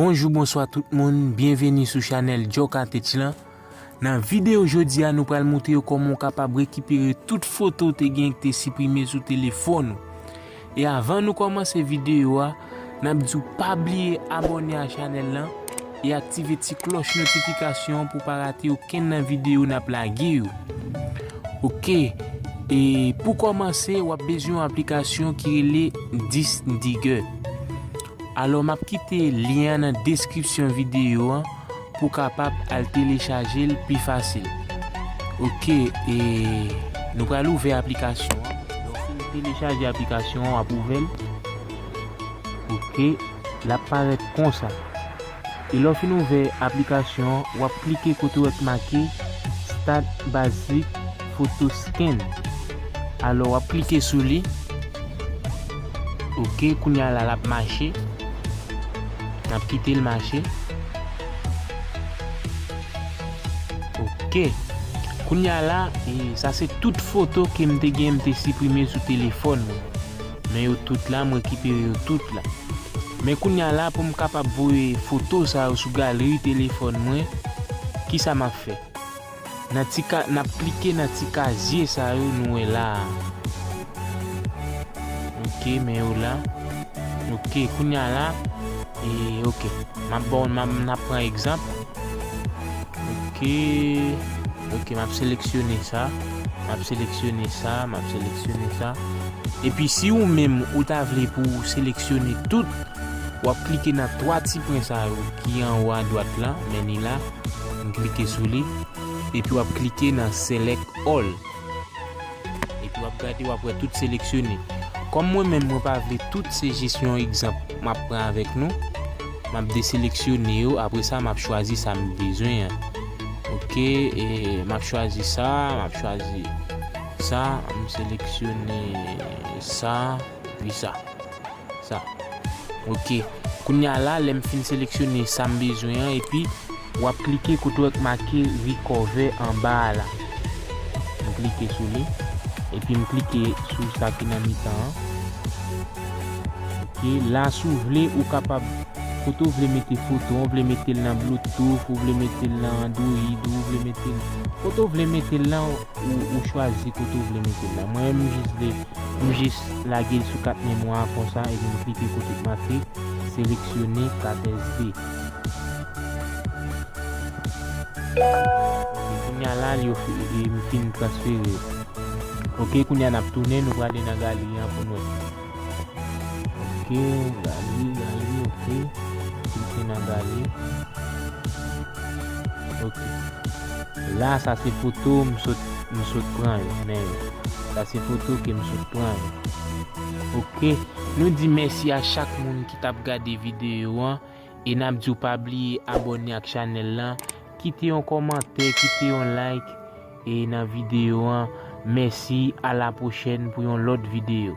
Bonjou bonswa tout moun, byenveni sou chanèl Joca Tech lan Nan videyo jodi a nou pral moutre yo kòman ou kapab rekipere tout foto ou te gen ki te siprime sou telefòn ou. E avan nou kòmanse videyo a, nap diw pa bliye abòne a chanèl lan e aktive ti klòch notifikasyon an pou pa rate okenn nan videyo nap lage yo ok e pou kòmanse wap bezwen yon aplikasyon ki rele Disndigger alò map kite lyen an nan deskripsyon videyo an. Pou kapab al telechaje l pi fasil. Ok e nou pral ouvè aplikasyon an. Lè w fin telechaje aplikasyon an w ap ouvè l. Ok l ap parèt konsa. E lè w fin ouvè aplikasyon an w ap klike kote w wè k make start basic. Photo scan alò wap klike sou li ok kounya la lap mache nap kitel mache ok kounya la sa se tout foto kem te gen mte siprime sou telefòn mwen men yo tout la m rekipere yo tout la men kounya la poum kapab voye foto sa yo sou galri telefòn mwen kisa map fè. Nan ti ka, n ap klike nan ti kazye sa yo nou wè la a. Ok, men yo la. Ok, kounye a la. E, ok. M ap bon, m ap pran egzanp. Ok. Ok, m ap seleksyone sa. M ap seleksyone sa, m ap seleksyone sa. E pi si ou menm ou ta vle pou ou seleksyone tout, w ap klike nan 3 ti pwen sa yo ki anwo adwat la, men ni la. Nou klike sou li, epi wap klike nan select all. Epi wap gade wap wè tout seleksyone. Kòm mwen menm mwen pa vle tout se jis yon egzanp map pran avèk nou. Map deseleksyone yo apre sa map chwazi sa m bezwen an. Ok e map chwazi sa, map chwazi sa, m seleksyone sa epi sa. sa. Ok kounya la lèm fin seleksyone sam bezwen an epi wap klike kote wè ki make recover anba a la m klike sou li epi m klike sou sa ki nan mitan an ok la si w vle ou kapab kote w vle mete foto an ou vle metel nan bluetooth ou vle metel nan android ou vle metel kote w vle metel la. Ou chwazi kote ou vle mete l la. Mwen menm m jis vle m jis lage l sou kat memwa a konsa epi m klike kote ki make seleksyone kat SD. Ok kounya la li ofri m fin transfere l. Ok kounya n ap tounen nou prale nan galeri an pou n wè. Ok, gali, gali, ok. Klike nan gali. Ok. La, sa se foto m sot, m sot pran yo, men yo. Sa se foto ke m sot pran yo. Ok. Nou di mèsi a chak moun ki tap gade videyo an. E nap di w pa bliye abone ak chanèl lan. Kite yon komantè, kite yon like. E nan video an mèsi a la prochèn pou yon lòt video.